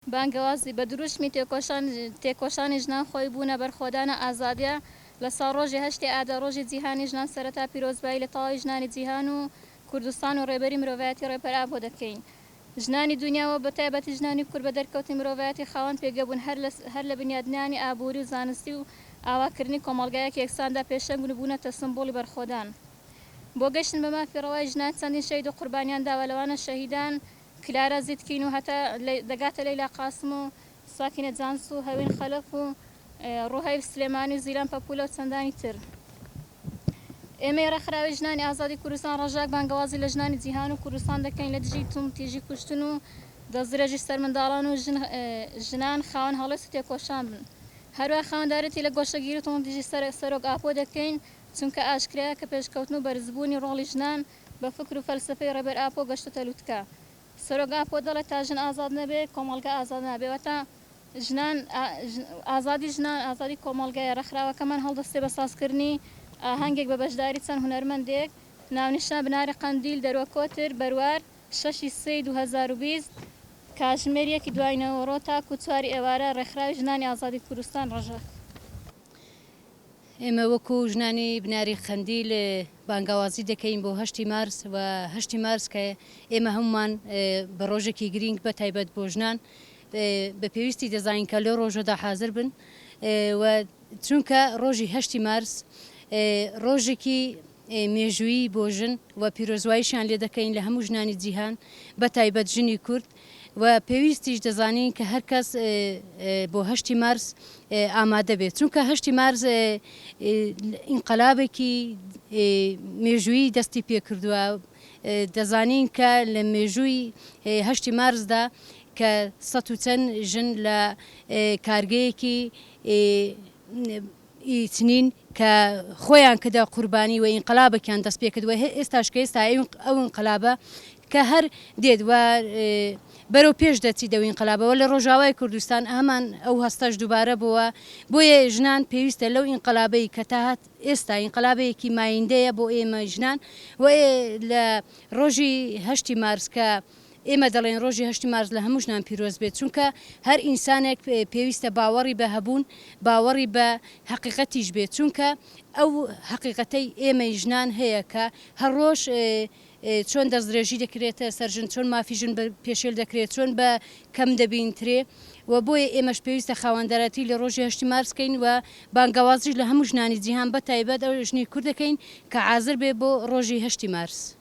بانگەوازی بە دروشمی تێکۆشان تێکۆشانی ژنان خۆی بوونە بەرخۆدانە ئازادیە لە ساڵ ڕۆژی هەشتی ئادار ڕۆژی جیهانی ژنان سەرەتا پیرۆزبایی لە تەواوی ژنانی جیهان و کوردستان و ڕێبەری مرۆڤایەتی ڕێبەر ئاپۆ دەکەین ژنانی دونیا و بە تایبەتی ژنانی کورد بە دەرکەوتنی مرۆڤایەتی خاوەن پێگە بوون هەر لە هەر لە بنیادنانی ئابووری و زانستی و ئاوا کردنی کۆمەڵگایەکی یەکساندا پێشەنگن و بوونەتە سمبوڵی بەرخۆدان بۆ گەشتن بە مافی ڕەوای ژنان چەندین شەهید و قوربانیان داوە لەوانە شەهیدان کلارا زیتکین و هەتا دەگاتە لەیلا قاسم و ساکینە جانس و هەوین خەلەف و ڕوهەیل سلێمانی و زیلان پەپولە و چەندانی تر. ئێمەی ڕێکخراوی ژنانی ئازادی کوردستان ڕەشاک بانگەوازی لە ژنانی جیهان و کوردستان دەکەین لە دژی توندتیژی کوشتن و دەستدرێژی سەر منداڵان و ژنان خاوەن هەڵوێست و تێکۆشان بن. هەروەها خاوەندارێتی لە گۆشەگیری و توندتیژی سەر سەرۆک ئاپۆ دەکەین چونکە ئاشکرایە کە پێشکەوتن و بەرزبوونی ڕۆڵی ژنان بە فکر و فەلسەفەی ڕێبەر ئاپۆ گەشتۆتە لوتکە. سەرۆک ئاپۆ دەڵێت تا ژن ئازاد نەبێت، کۆمەڵگا ئازاد نابێت. واتە ژنان، ئازادی ژنان، ئازادی کۆمەڵگایە. ڕێکخراوەکەمان هەڵدەستێت بە سازکردنی ئاهەنگێک بە بەشداری چەند هونەرمەندێک، ناونیشان، بناری قەندیل، دەروە کۆتر، بەروار، شەشی سێی دوو هەزار و بیست، کاتژمێر یەکی دوای نەوەڕۆ تاکوو چواری ئێوارە، ڕێکخراوی ژنانی ئازادی کوردستان، ڕژە. ئێمە وەکو ژنانی بناری قەندیل بانگەوازی دەکەین بۆ هەشتی مارس و هەشتی مارس کە ئێمە هەمومان بە ڕۆژێکی گرینگ بە تایبەت بۆ ژنان بە پێویستی دەزانین کە لەو ڕۆژەدا حاضر بن و چونکە ڕۆژی هەشتی مارس ڕۆژێکی مێژوویی بۆ ژن و پیرۆزواییشیان لێ دەکەین لە هەموو ژنانی جیهان بە تایبەت ژنی کورد و پێویستیش دەزانین کە هەر کەس بۆ هەشتی مارس ئامادە بێت چونکە هەشتی مارس ئینقەلابێکی مێژوویی دەستی پێ کردووە دەزانین کە لە مێژووی هەشتی مارسدا کە سە و چەند ژن لە کارگەیەکی ی چنین کە خۆیان کردە قوربانی و ئینقلابەکیان دەست پێ کرد و ئێستاش کە ئێستا ئەو ئینقلابە کە هەر دێت و بەرەو پێش دەچیت ئەو ئینقلابە و لە ڕۆژاوای کوردستان هەمان ئەو هەستەش دووبارە بۆوە بۆیە ژنان پێویستە لەو ئینقلابەی کە تا هات ئێستا ئینقلابەیەکی مایندەیە بۆ ئێمە ژنان و لە ڕۆژی هەشتی مارس کە ئێمە دەڵێین ڕۆژی هەشتی مارس لە هەمووشنان پیرۆز بێت، چونکە هەر ئینسانێک پێویستە باوەڕی بە هەبوون، باوەڕی بە هەقیقەتیش بێت، چونکە ئەو هەقیقەتەی ئێمەی ژنان هەیە کە هەر ڕۆژ چۆن دەستدرێژی دەکرێتە سەر ژن، چۆن مافی ژن پێشێل دەکرێت، چۆن بە کەم دەبینترێ و بۆیە ئێمەش پێویستە خاوەندارێتی لە ڕۆژی هەشتی مارس کەین و بانگەوازیش لە هەموو ژنانی جیهان بەتایبەت ئەو ژنی کورد دەکەین کە عازر بێ بۆ ڕۆژی هەشتی مارس.